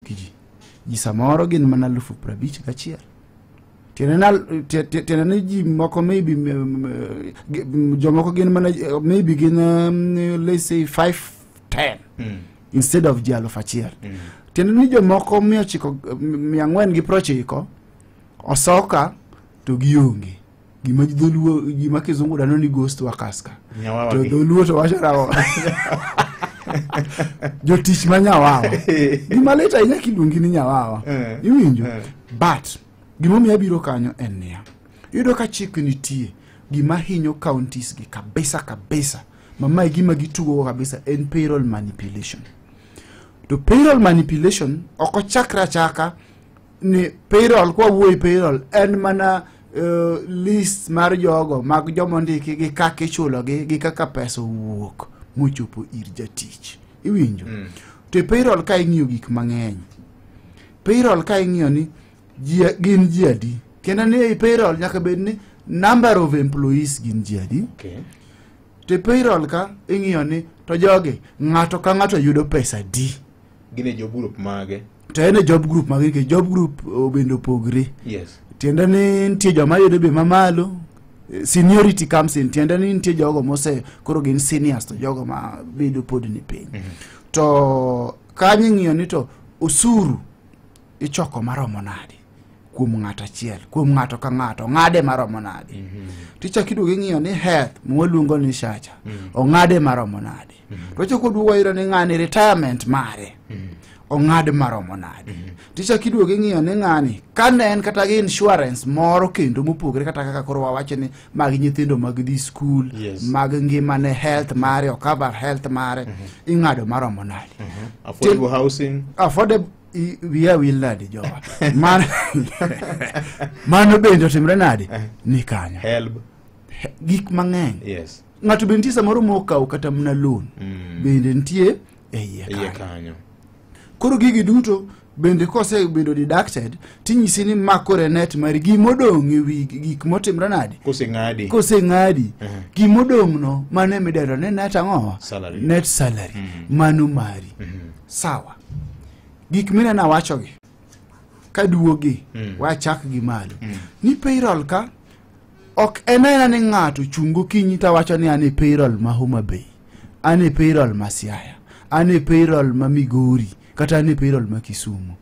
ji ji samoro gin mana alufu prabich gachiel tiende ni ji moko maybe jomoko gin mana maybe gin um, let's say 5 10 mm. instead of ji alufu achiel mm. tiende ni jomoko mia ochiko mia ang'wen gi prochiko osoka to gionge gima dholuo gima kizungu dano ni ghost workers ka Nyawawa to gi. dholuo to wacho nang'o jotich ma nyawawa gima lit ahinya kiluongi ni nyawawa Eh. iwinjo Eh. but gimomiyo abiro kanyo en niya iyudo ka chik nitie gima hinyo counties gi kabisa kabisa mamae gima gitugogo kabisa en payroll manipulation to payroll manipulation ok ochakre achaka ni payroll kwa wuoyi payroll en mana uh, list mar jogo mag joma ondiki gi kaka ichulogi gi kaka pesa owuok mochopo ir jatich iwinjo mm. to e payroll ka ing'iyo gik mang'eny payroll ka ing'iyo ni jia, gin ji adi kendo ni e payroll nyaka bed ni number of employees gin ji adi okay. to e payroll ka ing'iyo ni to jogi ng'ato ka ng'ato yudo pesa di gine jo group mage to en e job group mag nikech job group oh, bende opogre yes tiende ni nitie joma yudo be mamalo eh, seniority comes in tiende ni nitie jogo mose koro gin seniors to jogo ma bedo pod ni piny to kanyo ing'iyo ni to osuru ichoko maromo nade kuom ng'ato achiel kuom ng'ato ka ng'ato ong'ade maromo nade tichak iduogo ing'iyo ni health mwaluongo ni shacha ong'ade maromo nade mm-hmm. to chako duogo ayudo ni ng'ani retirement mare mm-hmm. ong'ad maromo nade mm-hmm. tichak iduogo ing'iyo ni ng'ani kane en kata gi insurance moro kendo mopogore kata kaka koro wawacho ni mag nyithindo mag dhi skul yes. mag ngimane health mare ocover health mare mm-hmm. ing'ado maromo nade mm-hmm. affordable housing affordable wiya wil nadi jowa mano bende otimre nadi eh. ni kanyo gik mang'eny yes. ng'ato be nitie samoro mokawo kata mna loan mm. bende nitie e iye kanyo koro gigi duto bende kosebedo deducted tinyisi ni makore net mar gimodong' e wi gik motimre nade koseng'adi kose ng'adi uh -huh. gimodong' no mano emidendo ni net ang'owa net salary mm -hmm. mano mari mm -hmm. sawa gik minena wachogi kaduogi mm. wachak gi malo mm. ni payroll ka ok en aena ni ng'ato chung' gokinyi to wacho ni an e payroll ma homa bay an e payroll ma siaya an e payroll ma migori kata an e payroll ma kisumu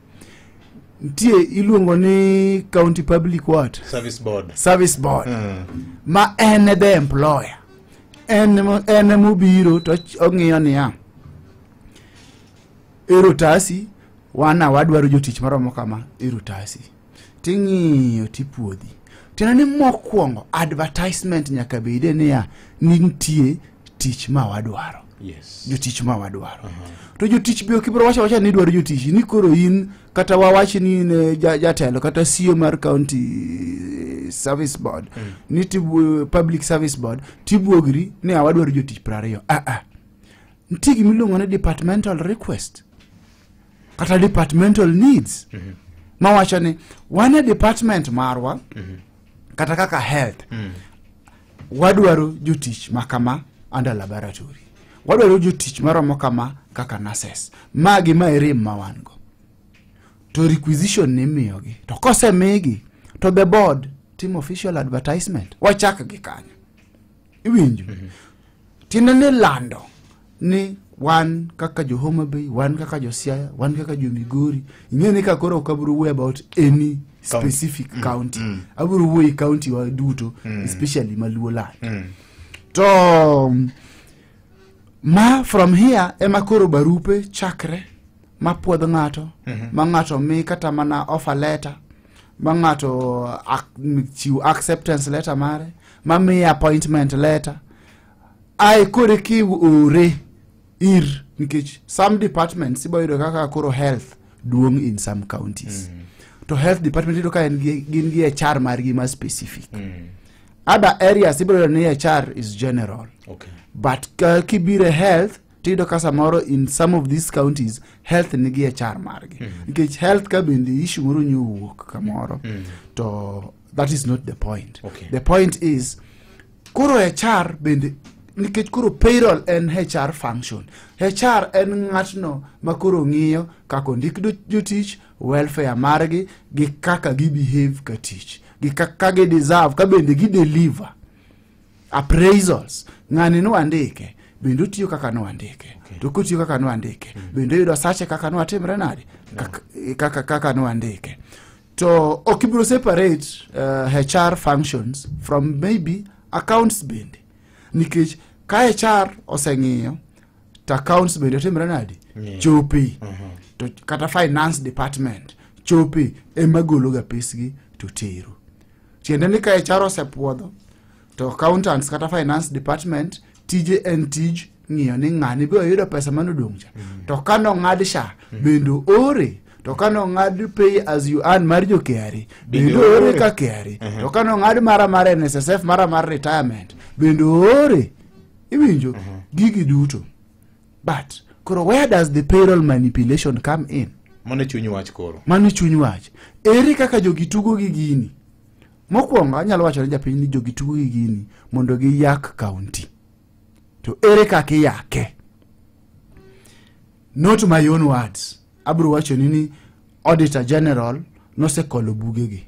nitie iluongo ni county public what service board service board mm. ma en e the employer en emo- en emobiro to ch- ong'iyo niya erotasi wana wadwaro jotich maromo kama erotasi ting'iyo tipuodhi tiende ni mokwongo advertisement nyaka bede niya nitie tich ma wadwaro yes jotich ma wadwaro uh -huh. to jotich be ok ibiro wacho wacha ni idwaro jotich ni koro in kata wawachi ni in eh, jatelo ja kata sio mar county eh, service board mm. ni tibu, public service board tibuogri ni awadwaro jotich prariyo aa ah, ah. nitie gimiluongo ni departmental request kata departmental needs mm -hmm. mawacho ni wan e department marwa mm -hmm. kata kaka health mm -hmm. wadwaro jotich makama under laboratory wadwaro jotich maromo kama kaka nurses magi ma erem ma wan go to requisition ni miyogi to kosemigi to the board timo official advertisement wachak gi kanyo iwinjo mhm. tiende ni lando ni wan kaka jo homa bay wan kaka jo siaya wan kaka jo migori ing'e ni ka koro ok abiro wuoyo about any specific mm, county mm. abiro wuoyo county wa duto mm. especially maluo land mm. to um, ma from here ema koro barupe chakre ma puodh ng'ato mm -hmm. ma ng'ato mi kata mana offer letter ma ng'ato chiw acceptance letter mare ma miye appointment letter ae koro eka iore ir nikech some departments ibo yudo kaka koro health duong in some counties to health department iyudo ka en gi- gin gi hr margi ma specific other areas ibiro yudo ni hr is general Okay. but ka- kibiro e health tiyudo ka samoro in some of these counties health nigi hr margi nikech health ka bende issue moro nyo owuok kamoro to that is not the point Okay. the point is koro hr bende nikech koro payroll en hr function hr en ng'atno ma koro ng'iyo kaka ondik do- jotich welfare margi gi kaka gibehave ka tich gi kaka gideserve ka bende gideliver appraisals ng'ani nwandike bende otiyo kaka nwandike okay. to kotiyo kaka nwandike mm. bende oyudo sache kaka nwatimre nade kaka, kaka, kaka nwandike to ok ibiro separate uh, hr functions from maybe accounts bende nikech ka hr oseng'iyo to accounts bende otimre nadi yeah. chopi uh -huh. to kata finance department chopi ema gologa pesgi to tero tiende ni ka hr osepuodho to accountants kata finance department tije en tij ng'iyo ni ng'ani be oyudo pesa mane odong' cha mm. to ka nong'ad sha mm. bende ore to ka nong'ad pay as you earn mar jo KRA bende ore ka KRA to ka nong'ad mara mar NSSF mara mar retirement bende ore iwinjo gigi duto but koro where does the payroll manipulation come in mano chuny wach koro mano chuny wach ere kaka jogi tugo gi gini mokwongo anyalo wacho ne japiny ni jogi tugo gi gini mondo giyak kaunti to ere kaka iyake not my own words abiro wachoni ni auditor general nosekolo bugegi